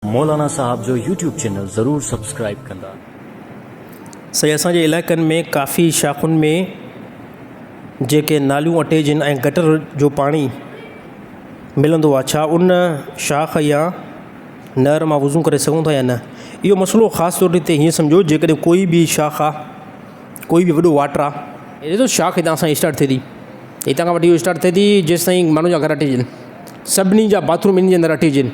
مولانا صاحب جو YouTube channel ضرور سبسڪرائيب ڪندا. سائين اسان جي علائقن ۾ ڪافي شاخن ۾ جيڪي ناليون اٽيجن ۽ گٽر جو پاڻي ملندو آ ڇا ان شاخ يا نهر مان وضو ڪري سگهون ٿا يا نه اهو مسئلو خاص طور تي هيئن سمجهو جيڪڏهن ڪوئي به شاخ آ ڪوئي به وڏو واٽر آ هي ڏسو شاخ هتان سائين اسٽارٽ ٿئي ٿي هتان کان وٺي اهو اسٽارٽ ٿئي ٿي جيستائين ماڻهن جا گهر اٽيجن سڀني جا باٿروم انهي جي اندر اٽيجن.